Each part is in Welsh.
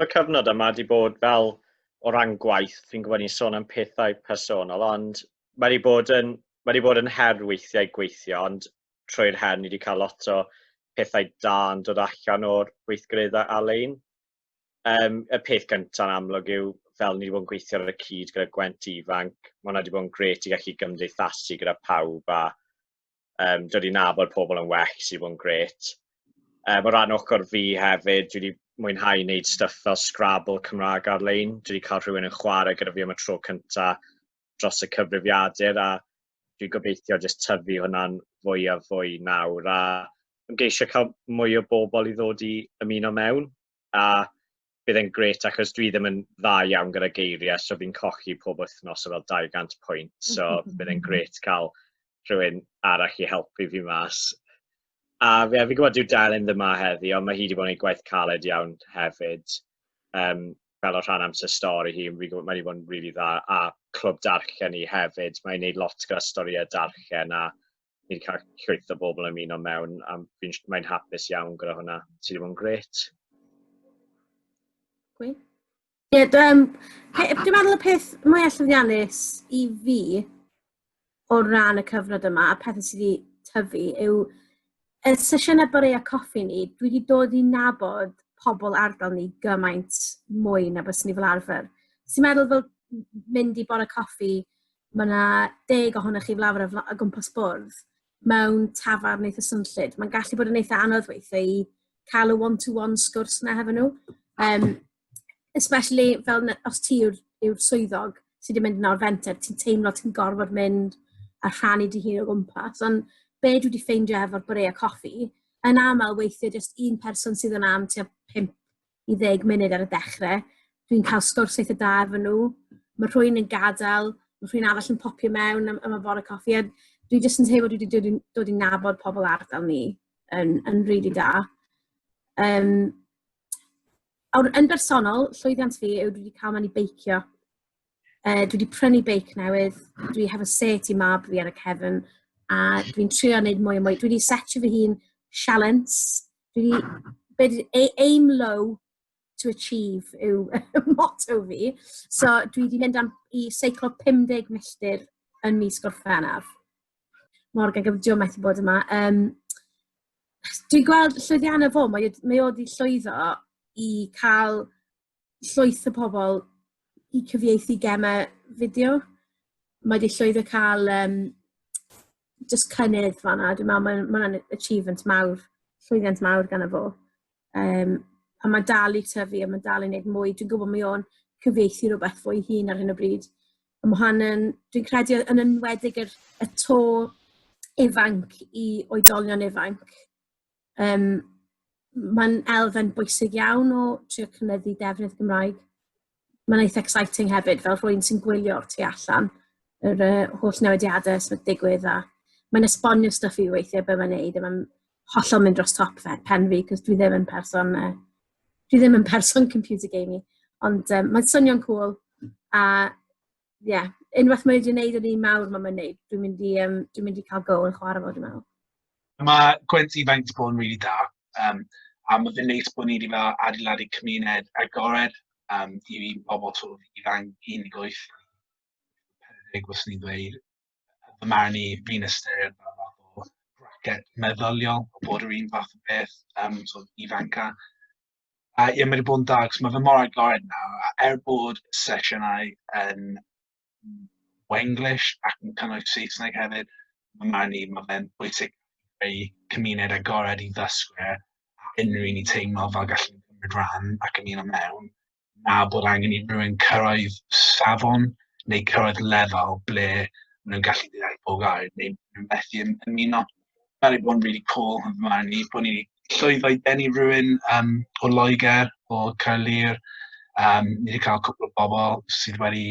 y cyfnod yma wedi bod fel o ran gwaith, fi'n gwybod ni'n sôn am pethau personol, ond mae wedi bod yn, mae wedi bod yn her weithiau gweithio, ond trwy'r her ni wedi cael lot o pethau da yn dod allan o'r gweithgareddau ar-lein. Um, y peth gyntaf yn amlwg yw, fel ni wedi bod yn gweithio ar y cyd gyda Gwent Ifanc, mae hwnna wedi bod yn gret i gallu gymdeithasu gyda pawb a um, dod i nabod pobl yn well sydd bod yn gret. Um, o ran ochr fi hefyd, dwi wedi mwynhau wneud stuff fel Scrabble Cymraeg ar-lein. Dwi wedi cael rhywun yn chwarae gyda fi am y tro cyntaf dros y cyfrifiadur a dwi'n gobeithio jyst tyfu hwnna'n fwy a fwy nawr a ymgeisio cael mwy o bobl i ddod i ymuno mewn a bydd e'n grêt achos dwi ddim yn dda iawn gyda geiriau, so fi'n cochi pob wythnos o fel 200 pwynt, so bydd e'n grêt cael rhywun arall i helpu fi mas. A fi, fi gwybod dyw Delyn ddim yma heddi, ond mae hi wedi bod yn ei gwaith caled iawn hefyd. Um, fel o rhan amser stori hi, mae wedi bod yn rili really dda, a clwb darllen i hefyd, mae'n gwneud lot gyda storïau darllen, a ni'n cael llwyth o bobl yn mynd o mewn, a mae'n hapus iawn gyda hwnna. Ti ddim yn gret. Ie, yeah, dwi'n meddwl y peth mwyaf llwyddiannus i fi o ran y cyfnod yma, a pethau sydd wedi tyfu, yw y sesiynau bore a coffi ni, dwi wedi dod i nabod pobl ardal ni gymaint mwy na bys ni fel arfer. Ti'n meddwl fel mynd i bore coffi Mae 'na deg ohonoch chi fel arfer o fla- o gwmpas bwrdd mewn tafarn eitha swnllyd. Mae'n gallu bod yn eitha anodd weithiau i cael y one-to-one sgwrs 'na hefo nhw. Yym, especially fel na- os ti yw'r yw'r swyddog sydd wedi mynd nawr fenter, ti'n teimlo ti'n gorfod mynd a rhannu dy hun o gwmpas. Ond be dwi wedi ffeindio efo'r bwrieau coffi, yn aml weithiau jyst un person sydd yna am tua pump i ddeg munud ar y dechrau. Dwi'n cael sgwrs eitha da efo nhw. Mae rhywun yn gadael, mae rhywun arall yn popio mewn am, am y fore coffi. A dwi jyst yn teimlo dwi wedi dod, dod i nabod pobl ardal ni yn, yn rili really da. Um, awr, yn bersonol, llwyddiant fi yw dwi wedi cael mynd i beicio. Uh, dwi wedi prynu beic newydd, dwi hefo set i mab fi ar y cefn, a dwi'n trio wneud mwy o mwy. Dwi wedi setio fy hun sialens Dwi wedi... be dwi... ei- aim low to achieve yw motto fi. So dwi 'di mynd am... i seiclo 50 milltir yn mis Gorffennaf. Morgan gyda Joe methu bod yma. Yym, dwi'n gweld llwyddiannau fo, mae o 'di llwyddo i cael llwyth o pobl i cyfieithu gemau fideo. Mae 'di llwyddo cael um, just cynnydd fanna. Dwi'n meddwl mae'n ma ma achievement mawr, llwyddiant mawr gan y fo. Um, a mae dal i tyfu a mae dal i wneud mwy. Dwi'n gwybod mae o'n cyfieithu rhywbeth fwy hun ar hyn o bryd. A mae hwn yn, dwi'n credu yn enwedig yr, y to ifanc i oedolion ifanc. Um, Mae'n elfen bwysig iawn o trio cynyddu defnydd Gymraeg. Mae'n eitha exciting hefyd, fel rhywun sy'n gwylio o'r tu allan, yr uh, holl newidiadau sy'n digwydd a mae'n esbonio stuff i weithiau beth mae'n neud a mae'n hollol mynd dros top fe, pen fi, cos dwi ddim yn person, uh, dwi ddim yn person computer gaming. Ond um, mae'n swnio'n cool a Ie, unwaith mae wedi gwneud yr un mawr mae'n mynd i wneud, dwi'n mynd i, um, dwi'n mynd i cael go yn chwarae fo, dwi'n meddwl. Mae gwent ifanc wedi bod yn rili really da, um, a mae fe'n neis bod ni wedi fel adeiladu cymuned agored um, i fi bobl sort of ifanc 18, 40, os ni'n dweud, fy marn i, fi'n ystyried fel fath o bracket meddyliol, bod yr un fath o beth um, sort of ifanca. A ie, mae wedi bod yn da, achos mae fe mor agored nawr, a er bod sesiynau yn Wenglish ac yn cynnwys Saesneg hefyd, mae marn i, mae fe'n bwysig ei cymuned agored i ddysgwyr a unrhyw un i teimlo fel gallu cymryd rhan ac yn un o mewn, na bod angen i rywun cyrraedd safon neu cyrraedd lefel ble maen nhw'n gallu deall pob gair neu nhw'n methu ymuno. Mae wedi bod yn rili cwl yn fy marn i, bod ni 'di llwyddo i denu rywun yym o Loegr, o Caerlŷr, yym ni 'di cael cwpl o bobl sydd wedi...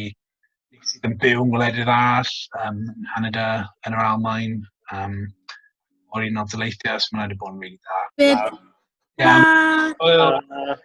sydd yn byw yng ngwledydd arall, yym yn Nghanada, yn yr Almaen, yym o'r Unol Daleithiau, so ma' hwnna wedi bod yn rili dda. Be- Hwyl! Hwyl!